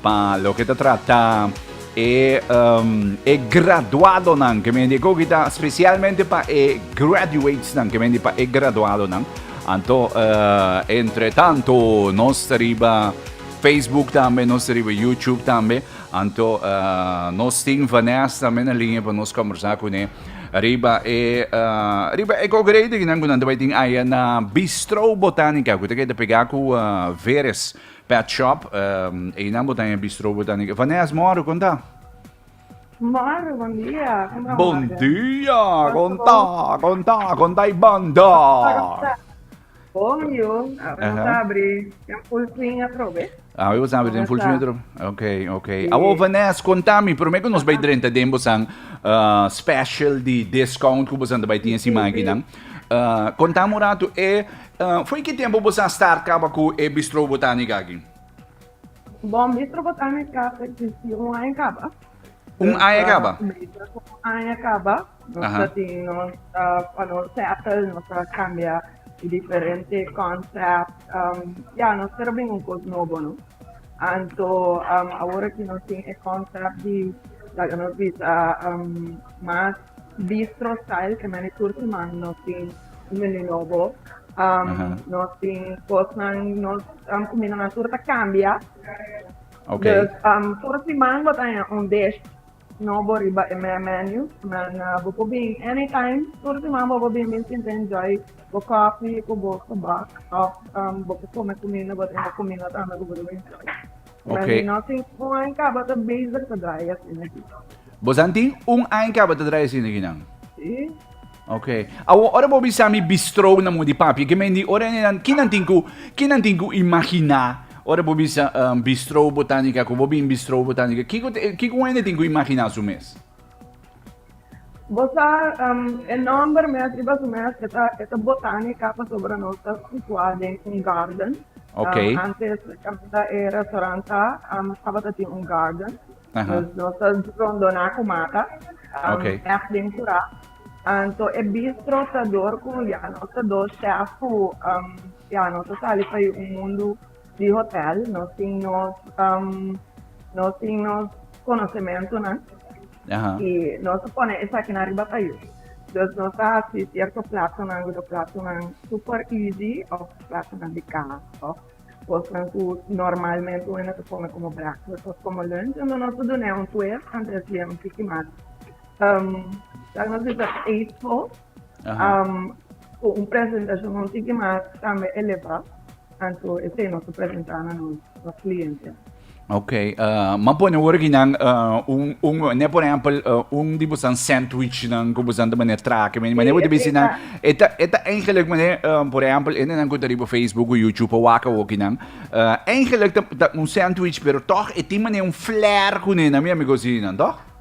Pa loke ta trata e, um, e graduadonan, ke men di ko kita specialmente pa e graduatesnan, ke men di pa e graduadonan. Anto, uh, entre tanto, nos riba Facebook tambe, nos riba YouTube tambe. Anto, uh, nos tin Vanessa tambe na linea pa nos conversa con e. Riba e, uh, riba e congredo, kinan kunan tabay tin aya na Bistro Botanica, kuta ke te pega ku uh, Veres. Pet shop, Einan bo ta den e bistro bo ta den. Vanes moro, kon ta? Moro, bon dia, kon ta? Bon dia, kon ta, kon ta, kon ta e banda? Bon yo, awe nos a abri den full swing atrobe. Awe nos a abri den full swing atrobe, ok, ok. Awor Vanes, kon ta mi, prome ku nos bai drenta den bosan special di discount ku bosan ta bai tin e simankinan, kon ta mi un ratu e. Fo'i ki tempu bo sa start kaba ku e Bistro Botanica aki? Bon, Bistro Botanica ta ekzisti un aña kaba. Un aña kaba? Un aña kaba. Nos ta tin nos pa nos settle, nos ta kambia e diferente concept. Ya, nos ta bringa un kos nobo, no. Anto, awor aki nos tin e concept di laga nos bisa mas. Bistro Style e mani tur siman nos tin un menu nobo. Um, Aha. Nos tin cosnan, nos um, comida na tur ta cambia. Ok. Dus um, tur siman bo ta un dish nobo riba e menu. Man, uh, bo por bin anytime, tur siman bo por bin bin sinta enjoy bo coffee cu bo tabak of um, bo por come comida, bo tin bo comida tambe cu bo debe enjoy. Ok. Mi no tin un aña caba ta bezig ta draya asina aquí. Bos an tin un aña caba ta draya asina aquí nan? Sí. Ok. Awor ora bo bisa mi bistro na mudi papia ke mende ora ene nan kinan tin cu kinan tin cu imagina ora bo bisa um bistro botanica cu bo bin bistro botanica kico kico ene tin cu imagina su mes? Bo sa, e nòmber mes riba su mes e ta e ta botanica pasobra nos ta situá den un garden. Okay. Um, antes caminda e restaurant ta um, tabata tin un garden. Aha. Dus nos ta rondoná cu mata. Um, Okay. Echt den curá. Um, so e bistro ta door cu ya nos ta door chef cu um, ya nos ta sali pa e un mundo di hotel no tin nos um no tin nos conocementonan y nos a pone esakinan riba tayu dus nos a haci cierto platonan cu ta platonan super easy of platonan di cas of cosnan cu normalmente un hende ta come como breakfast of como lunch ento nos a dun'e un twist antes di un tiki mas um tal nos bisa tasteful. ku un presentashon un tiki mas tambe elevá, anto e tema ku presentá na nos nos kliente. Ok, m'a pone wor aki nan un un ne por ehempel un di bosan sandwichnan ku bosan ta mane trake mane mane bo ta bisi nan e ta e ta eigenlijk mane por ehempel e nenan ku ta riba facebook o youtube o wak awoki nan eigenlijk ta ta un sandwich pero tòg e tin mane un flair kuné nan mi amigo si nan tòg.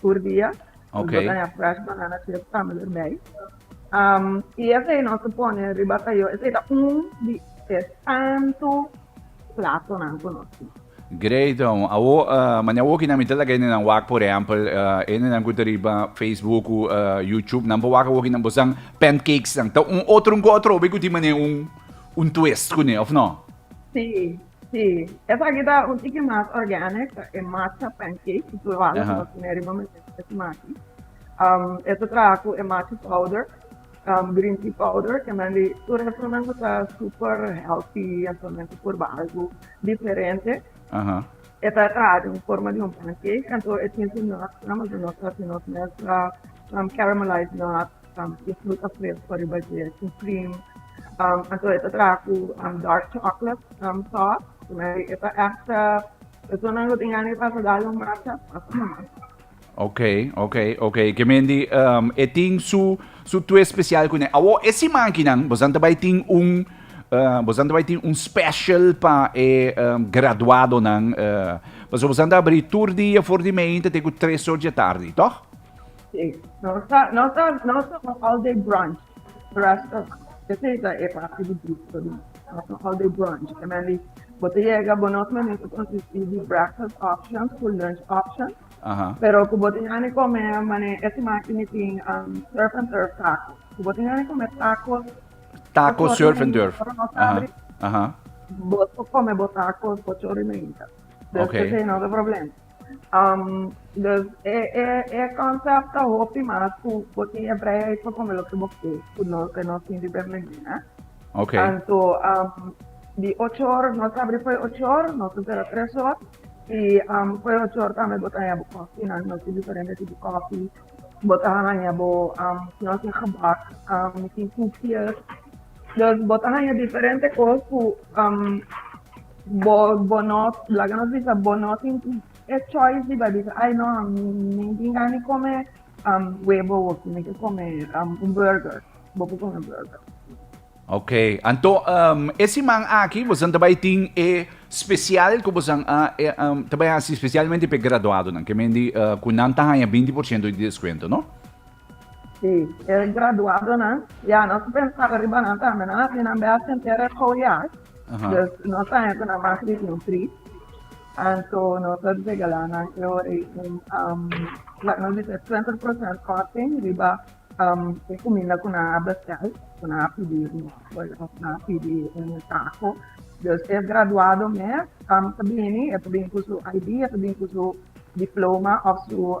tur dia. Ok. Nos a fresh banana chips tambe erbij. Um, y esei nos a pone riba tayo. Esei ta un di e tanto platonan cu nos tin. Great, um, awo, uh, mania awo ki na mi te laga ene nan wak, por ejempel, uh, ene nan ku te riba Facebook, ku, uh, YouTube, nan pa wak awo ki nan bosan pancakes nan. Ta un otro, un ku otro, obe ku tin mane un, un twist kune, of no? Sí, Si, esaki ta un tiki mas organic, ta e macha pancake, ki tur banda ta mas meri bo mester di es maki. Um, e ta traha ku e macha powder, um, green tea powder, ke nan di, tur esonan ku ta super healthy, esonan ku por ba algu diferente. Aha. E ta traha di un forma di un pancake, anto e tin su nutsnan, mas di nos ta hasi nos mes um, caramelized nuts, Mi full afraid for riba dje supreme. Anto e ta traha cu dark chocolate sauce. Cu me e ta echt personanan lo tin gana pa ta dal un masa asina. Ok, ok, ok. Ke mendi um, e tin su, su twist special cu ne. Awo, e siman kinan, bosan ta bai tin un, uh, bosan ta bai tin un special pa e um, graduadonan. Uh, paso bosan ta abri tur dia for di mei, ta te cu tres or dje tardi, toch? Sí, nos ta nos ta nos ta un all day brunch restaurant. Esei ta e parti di bistro di nos. Nos ta un all day brunch, ke men di bo ta yega, bo nos menen ta konsistí di breakfast options ku lunch options, Aha. pero ku bo tin hani kome mane e siman aki mi tin um surf and turf tacos. Ku bo tin hani kome tacos Taco Ochorina surf and hita, turf. ora nos Aha. abri, Aha. bo por kome bo tacos ochorina hita. Oké. Esei no ta problema. Dus e konsèp ta hopi mas ku bo tin e vrijheid pa kome loke bo ke ku nos den nos tin di Bernardina. Okay. Anto di ocho or, nos ta abri fo'i ocho or, nos ta sera tres or, i fo'i ocho or tambe bo ta haña bo kòfi, nan nos tin diferente tipo kòfi, bo ta haña bo si no tin gebak, mi tin koekjes, dus bo ta haña diferente kos ku. Bo bo no laga nos bisa bo no tin e choice riba bisa ai no mi tin gana di come um webo hopi mi ke come um un burger bo por come burger Ok, anto um, e siman aki bosan ta bai tin e special ku bosan a e, um, ta bai hasi specialmente pe graduadonan, ke mendi uh, ku nan ta haya 20% di descuento, no? Si, e graduadonan. Ya, nos a pensaba riba nan tambe. Nan a bini ambeat si entero e gou ya. Dus, no ta henter nan mas di un tris. Anto nos a regala nan e ora ei un, laga nos bisa e twenti procent korting riba e kuminda ku nan a bestel, ku nan a pidi riba òf nan a pidi un tako. Dus e graduado mes ta bini, e ta bini ku su ID, e ta bini ku su diploma òf su.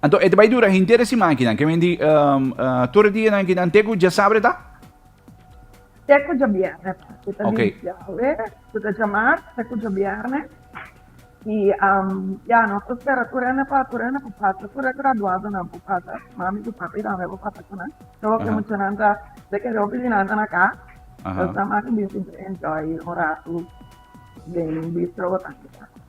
Anto e ta bai dura henter e siman kinan, ke mindi tur e dianan kinan te ku djasabre ta? Te ku djabierne ta. Ku ta di djawe, ku ta djamar, te ku djabierne. I ya, nos ta spera tur hende pa tur hende ku pasa, tur e graduadonan ku pasa, mami ku papi tambe ku pasa ku nan. Tur hopi muchanan ta, de kere hopi di nan ta na kas, nos ta maki bini sinti enjoy un ratu den bistro botanica.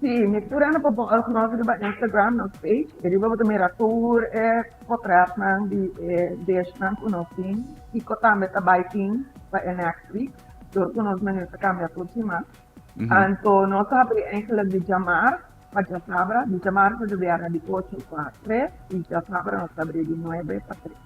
Sí, mi pura no por bon algo nos riba Instagram, nos page, y riba bo ta mira tur e potretnan di e dishnan cu nos tin, kico tambe ta bay tin pa e next week, door cu nos menu ta cambia tur siman. Anto nos a habri eindelijk di djamars pa djasabra, di djamars pa djobièrnè di ocho pa tres, y djasabra nos ta habri di nuebe pa tres.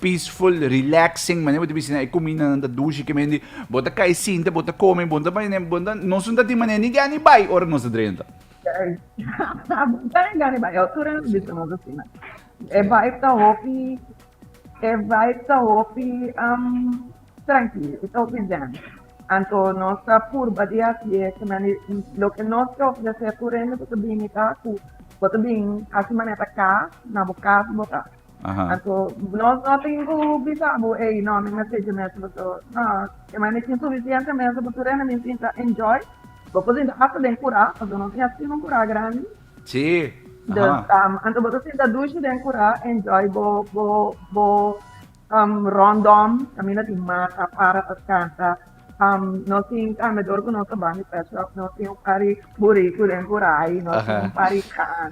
peaceful, relaxing, manera bo ta bisa nan e cuminda nan ta dushi ki mente bo ta cay sinta bo ta come bo ta bay bo ta nos no ta tin manera ni gana ni bay ora nos ta drenta. Bo ta ni gana ni bay e altura nos bisa nos asina e vibe ta hopi e vibe ta hopi tranquilo e ta hopi zen anto nos ta purba di haci e kinan di loke nos ta ofrece aturendo bo ta bini ta cu bo ta bin haci manera ta cas na bo cas bo ta. Anto nos no tin cu bisa bo ey no mi mercé dje mes bo so no e mane tin suficiente mes bo tur hende mi sinta enjoy. Bo por sinta hasta den cura pasobra no tin asina un cura grandi. Si dus anto bo ta sinta dushi den cura enjoy bo bo bo rondom camina tin mata para pa scanta nos tin camedor cu nos ta bandi pet shop nos tin un pari buricu den cura ay nos tin un pari can.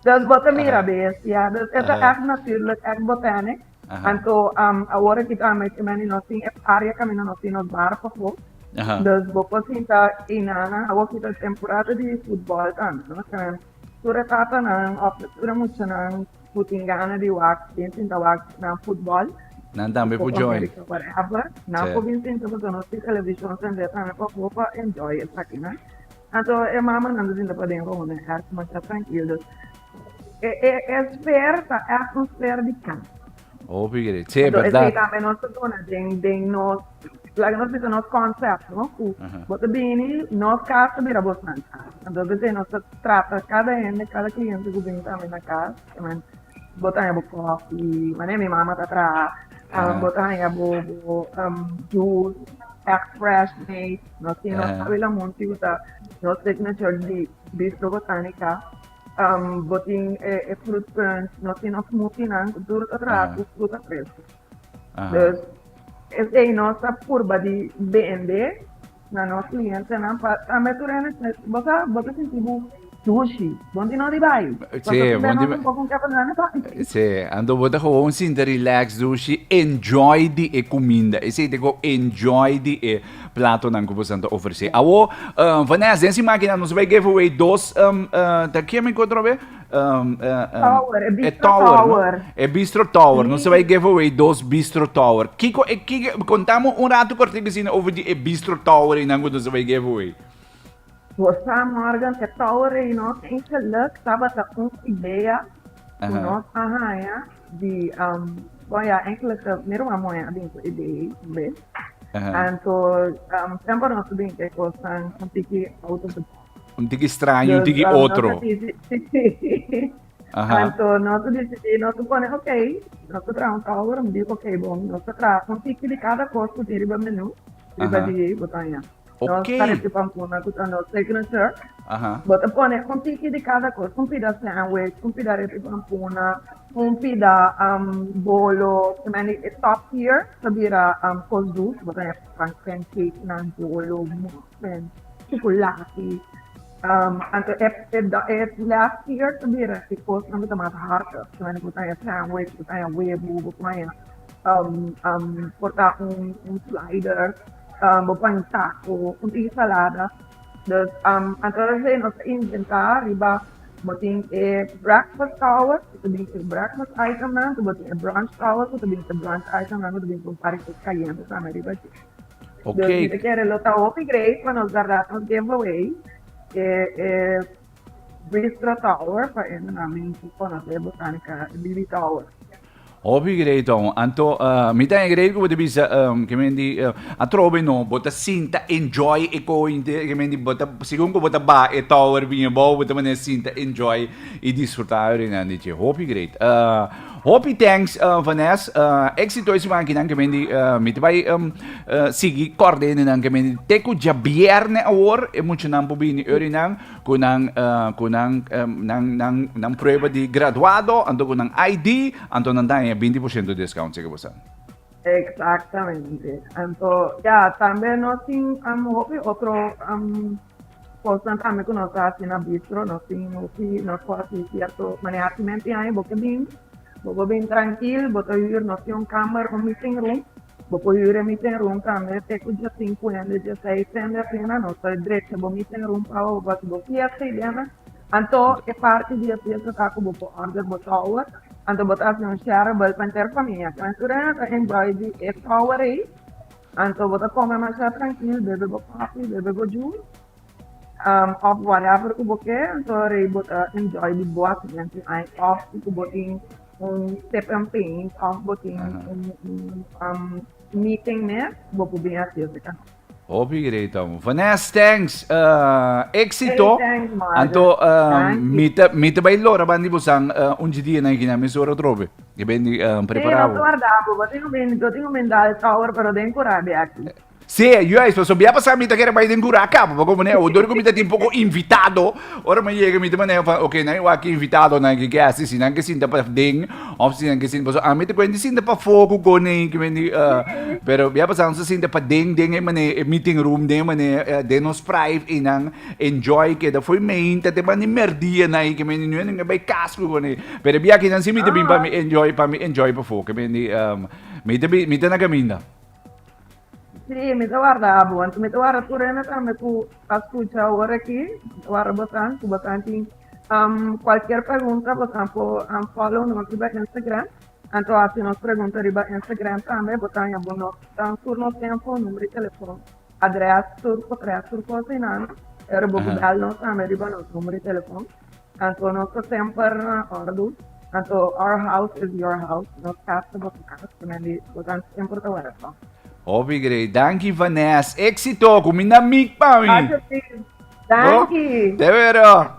Dus bo ta mira bestia, dus e ta èk natùrlik, èk botènik. Anto awor aki ta met imani nos tin e área kaminda nos tin nos bar pasobra. Dus bo por sinta ei nannan, awor aki ta temporada di futbòl tambe, no? Kende tur e tatanan òf tur e muchanan ku tin gana di wak, bin sinta wak nan futbòl. Nan tambe por join. Nan por bin sinta pasobra nos tin televishon tambe tambe pasobra pa enjoy esaki, no? Anto e mamanan ta sinta paden ronda den hèr ku masha trankil dus e e sfeer ta èf un sfeer di kans. Hopi ke di. Si, e bèrdat. Anto esei tambe nos ta duna den den nos laga nos bisa nos konsèp no ku bo ta bini nos kas ta bira bosnan kas. Anto esei nos ta trata kada hende kada kliente ku bini tambe na kas kiman bo ta haña bo kòfi manera mi mama ta traha bo ta haña bo bo jus èf fresh made. No tin, no sabe la motivo ta no take measure di bisto botanica. Um, botin e, e fruit punch, no tin no smoothie nan, duro ta traha cu fruta fresco. Dus, es ei no ta purba di bende na no cliente nan pa tambe turene, bosa, bota sinti bu Sushi, bon tin ori bai? Sí, bon tin bai. Sí, anto bo ta gewoon sinta relax dushi, enjoy di e cuminda. Esey te go enjoy di e platonan cu bosan ta ofrece. Awo, uh, Vanessa, den si máquina nos bai give away dos, um, uh, ta kiem ik otro be? Um, uh, um, Tower, e e bistro tower, no? tower. E bistro tower. Nos bai give away dos bistro tower. Kiko, e, kiko, contamos un rato cortico sin over di e bistro tower y nan cu nos bai give away. Rosa Morgan e Tower Reynolds en geluk tabata un idea ku nos a haña di bon ya eigenlijk mero a moe a bin ku e idea ei un bes. Anto semper nos a bin ku e kosnan un tiki out of the box. Un tiki straño, un tiki otro. Anto nos a disidi nos a pone ok, nos ta traha un tower, mi di ok bon nos ta traha un tiki di kada kos ku tin riba menu riba di bo ta haña. Nos ta recibi vacuna cu ta nos signature. Bo ta pone un tiki di cada cos, un pida sandwich, un pida recibi vacuna, un pida bolo, kimendi e top tier ta bira cos dus, bo ta haya pancakenan, bolo, muffin, chocolati, anto e last tier ta bira e cosnan cu ta mas harta, kimendi bo ta haya sandwich, bo ta haya webo, bo por haya porta un slider. bo pensa cu un ensalada. Dus anto de hei nos a inventa riba, bo tin e breakfast tower cu ta bin e breakfast item nan, cu bo tin e brunch tower cu ta bin e brunch item nan, cu ta bin con paritos cayente tambe riba dje. Dus mi ta kere lo ta hopi great pa nos guarda nos giveaway. Westra Tower pa entrenamento pa nos Botanica Lily Tower. Hopi grei ton. Anto, uh, mi ta grei ku bota bisa, um, ke men di, uh, atrobe no, bota sinta enjoy e ko inte, ke men di, bota, segun ko bota ba e tower biña bou, bota mané sinta enjoy i disfruta ori nan di che. Hopi grei. Uh, Hopi thanks Vanes, exito esi makinan ke mindi miti bai sigui kordene nan ke mindi te ku djabierne awor e muchanan por bini ori nan ku nan ku nan nan prueba di graduado anto ku nan ID anto nan daña binti por shento discount si ke bo sa. Exactamente anto ya tambe nos tin hopi otro Kosnan tambe ku nos a hasi na bistro, nos tin hopi nos por hasi sierto manera. Primer tin aña bo ke bin, bo por bin trankil, bo ta hür, nos tin un kamber, un meeting room, bo por hür e meeting room tambe te ku dje sinku hende, dje seis hende asina, nos ta drecha bo meeting room pa bo por hasi bo fiesta ei dena. Anto e parti di e fiesta ta ku bo por order bo shower, anto bo ta hasi un sharable pa enter famia, ku nan tur hende ta enjoy di e shower ei. Anto bo ta kome masha trankil, bebe bo kofi, bebe bo jus, òf whatever ku bo ke, anto rei bo ta enjoy di bo asiento ai. Òf si ku bo tin un sip and paint, òf bo tin un meeting mes, bo por bin hasi'e se kano. Hopi great amo. Vanes, thanks! Éksito! Hey, thanks, Margaret. Anto, Danki. mi ta mi ta bai lora ban di bosan un dje dia na Hikinan mesora otrobe. Yo ben di prepara awo. Sí, doctor Daco, bo tin un ben, yo tin un ben dal shower, pero den cura de aki. Sí, juist, pasobra bia pasá mi ta kere bai den cura caba, pa compon'é awo. Dor cu mi ta tin poco invitado, ora mi a yega mi ta manera van, ok, nan a wak cu invitado, nan a ke guesten, si nan ke sinta paden of si nan ke sinta, pasobra ami ta cuenta di sinta pafó cu cona ei cu bendí, pero bia pasá nos a sinta paden den e manera, e meeting room, den e manera, den nos prive, i nan. Enjoy keda fo'i mein ta te bani merdia nai ke mendi nu endenga bai kas ku kone pero e biakinan nan si mi ta bin pa mi enjoy pa mi enjoy pafo ke mendi um mi ta bin mi ta na kaminda. Si mi ta warda abo want mi ta warda tur hende tambe ku a skucha ora aki mi ta warda botan ku botan tin um kualkier pregunta botan por um follow nos riba Instagram anto hasi nos pregunta riba Instagram tambe botan yambo nos dan tur nos info number di telefon. Adres, tur adres, tur cosa y nan. Pero bo cu bel nos tambe riba nos numero di telefon. Anto nos ta semper na ordu. Anto our house is your house. Nos cas ta boso cas. Cu nan di bo ta semper ta welcome. Hopi grei. Danki Vanes. Exito cu mi na mic pa mi. Alsjeblieft. Danki. Te wero.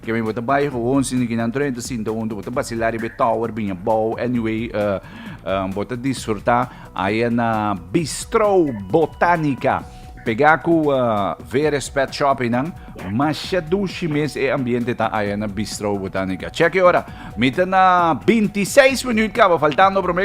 Ke mi bo ta bai gewoon sin ki nan troe ta sinta huntu bo ta basila riba e tower biña bou anyway bo ta disfruta aya na Bistro Botanica pega ku Veres Pet Shop einan masha dushi mes e ambiente ta aya na Bistro Botanica check e ora mi ta na binti seis minüt kaba faltando prome.